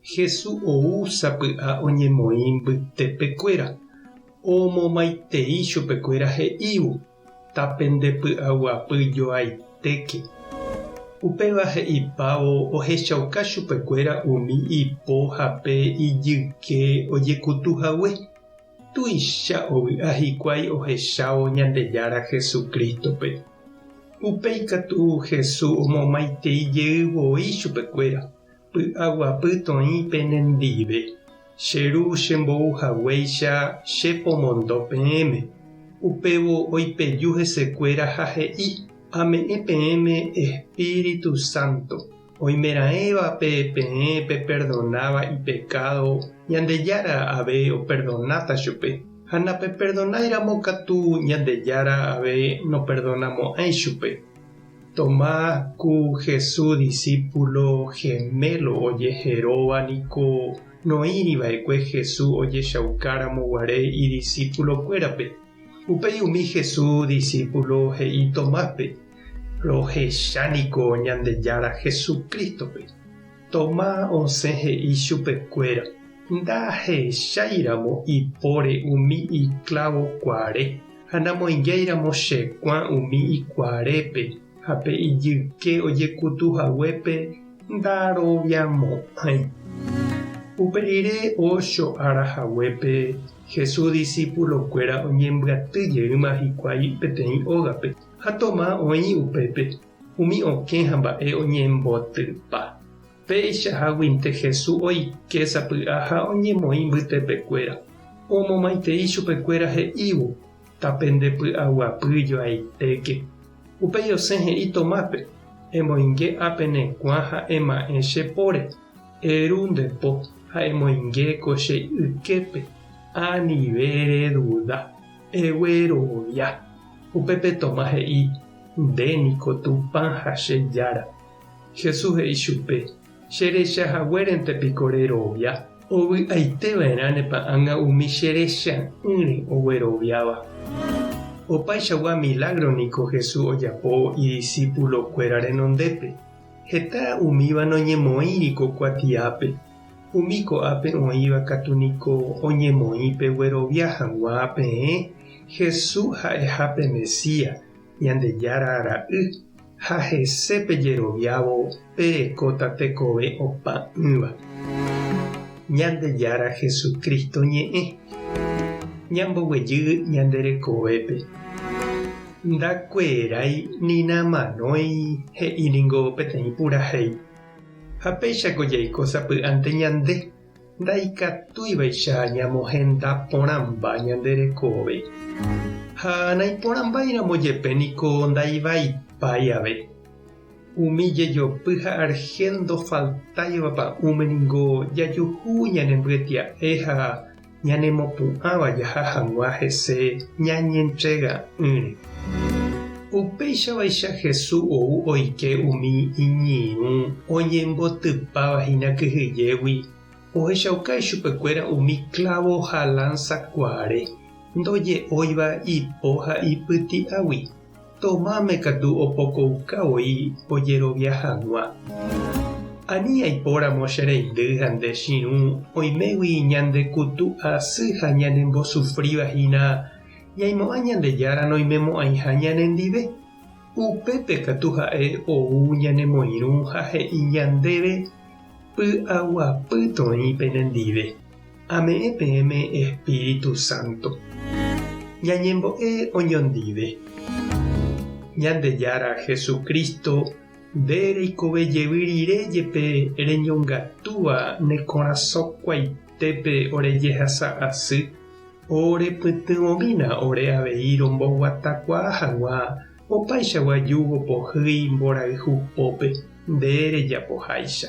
Hesu ou sapy'a oñemoĩ mbytepekuéra, omomaitei chupekuéra he'ívo, Tapende py'aguapy joaitéke. Upéva he'ipávo ohechauka chupekuéra umi ipo ha pe ijyke ojekutu hague. Tuicha ovy'a hikuái ohechávo Ñandejára Jesucristo-pe. Upéi katu Hesu omomaitei jey voi chupekuéra, Py'aguapytoĩ pene ndive, che Ru chembou haguéicha che pomondo peẽme. Upévo oipeju hesekuéra ha he'i, Ame'ẽ peẽme Espíritu Santo. Oimeraẽvape peẽ peperdonáva ipekádo, Ñandejára ave operdonáta chupe. Ha napeperdonáiramo katu, Ñandejára ave noperdonamo'ãi chupe. Tomás ku Jesús disípulo gemélo ojeheróva niko noĩri va'ekue Jesús ojechaukáramo guare idisípulokuérape. Upéi umi Jesús disípulo he'i Tomáspe, Rohecha niko Ñandejára Jesucrístope. Tomás osẽ he'i chupekuéra, Ndahecháiramo ipóre umi iklávo kuare, ha namoingiáiramo che kuã umi ikuarépe, ha pe ijyke ojekutu haguépe ndaroviamo'ãi. Upe rire ócho ára haguépe, Jesús disípulokuéra oñembyaty jeýma hikuái peteĩ ógape, ha Tomás oĩ upépe. Umi okẽ ha mba'e oñembotypa. Peichaháguinte Jesús oike sapy'a ha oñemoĩ mbytepekuéra, omomaitei chupekuéra he'ívo, Tape nde py'aguapy joaitéke. Upéi osẽ he'i Tomápe, Emoinge apenekuã ha ema'ẽ che póre, eru nde po ha emoinge ko che yképe, anive reduda. Egue erovia. Upépe Tomás he'i, Nde niko Tupã ha che Jára. Jesús he'i chupe, Che recha haguérente piko rerovia? Ovy'aite va'erãnepa ág̃a umi che recha'ỹre ogueroviáva? Opaichagua milágro niko Jesús ojapo idisípulo kuéra renondépe. Heta umíva noñemoĩri ko kuatiápe. Umi ko'ápe oĩva katu niko oñemoĩ peguerovia hag̃ua peẽ Jesús ha'eha pe Mesías, Ñandejára Ra'y, ha hese pejeroviávo perekóta tekove opa'ỹva. Ñandejára Jesucristo ñe'ẽ. Ñamboguejy ñande rekovépe. Ndakuerái ni namanói he'i ningo peteĩ purahéi. Ha péichako jaiko sapy'ánte ñande, ndaikatúivaicha ñamohenda porãmba ñande rekove. Ha naiporãmbáiramo jepe niko ndaivaipái ave. Umi jejopy ha argel ndofaltáiva pa'ũme ningo jajuhu ñanembyetya'e ha ñanemopu'ãva jaha hag̃ua hese ñañentrega'ỹre. Upéichavaicha Jesús ou oike umi iñirũ oñembotypáva hína kyhyjégui, ohechauka ichupekuéra umi klávo ha lánsakuaare ndoje'óiva ipo ha ipyti'águi. Tomáme katu opokouka voi ojerovia hag̃ua. Ani aipóramo che reindy ha nde chirũ oimégui ñande kutu asy ha ñanembosufríva hína ñaimo'ã Ñandejára noimemo'ãiha ñanendive. Upépe katu ha'e ou ñanemoirũ ha he'i ñandéve, Py'aguapy toĩ penendive. Ame'ẽ peẽme Espíritu Santo. Ñañembo'e oñondive. Ñandejára Jesucristo, nde reikove jevy rire jepe reñongatúva ne korasõkuaitépe ore jehasa asy, ore pytyvõmína ore avei romboguatakuaa haguã opaichagua júgo pohýi mborayhu pópe, nde rejapoháicha.